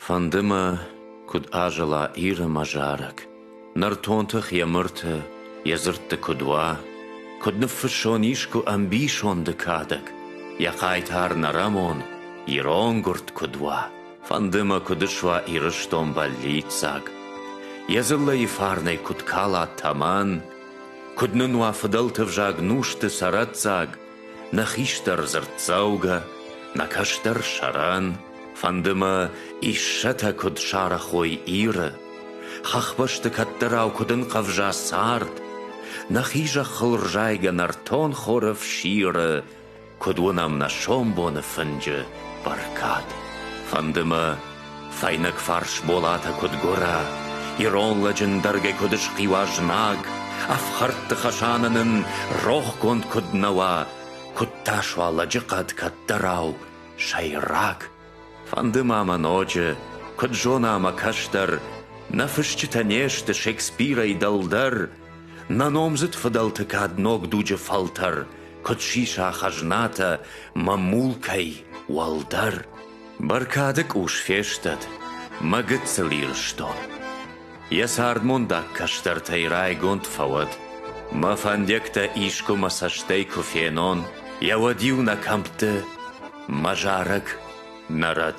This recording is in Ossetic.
Фӕнды мӕ, куыд азӕла Иры мӕ зарӕг, Нӕртон тых йӕ мырты, йӕ дзырдты куыд уа, Куыд ныффыссон искуы ӕмбисонды кадӕг, Йӕ хъайтар нӕрӕмон, ирон гуырд куыд уа. Фӕнды мӕ, куыд ысуа Ирыстон бӕллиццаг, Йӕ дзыллӕйы фарнӕй куыд кала тӕмӕн, Куыд нын уа фыдӕлты взаг нусты цӕрӕццаг, Нӕ хистӕр дзырддзӕугӕ, нӕ кӕстӕр сӕрӕн, Фӕнды мӕ, иссӕтӕ куыд сарӕхой Иры, Хӕхбӕсты кӕддӕрау куыд ӕнхъӕвза цард, Нӕхи зӕххыл рзайгӕ нӕртон хоры фсиры, Куыд уынӕм нӕ сомбоны фынджы бӕркад. Фӕнды мӕ, Фӕйнӕг фарс болатӕ куыд гуырӕ, Ирон лӕджы ндӕргӕй куыд схъиуа знаг, Ӕфхӕрдты хӕсаны нын рохгонд куыд нӕ уа, Куыд та суа лӕджы хъӕд кӕддӕрау сӕйраг. Фӕнды ма мӕ ноджы, куыд зона мӕ кӕстӕр, Нӕ фысджытӕ не сты Шекспирӕй дӕлдӕр, Нӕ номдзыд фыдӕлты кӕд ног дуджы фӕлтӕр, Куыд сиса хӕзнатӕ мӕ мулкӕй уӕлдӕр. Бӕркады къус фестӕд, мӕ гыццыл Ирыстон. Йӕ цардмондаг кӕстӕртӕй райгонд фӕуӕд, Мӕ фӕндиӕгтӕ искуы мӕ цӕстӕй куы фенон, Йӕ уӕд-иу нӕ кӕмтты мӕ зарӕг нӕ рӕд.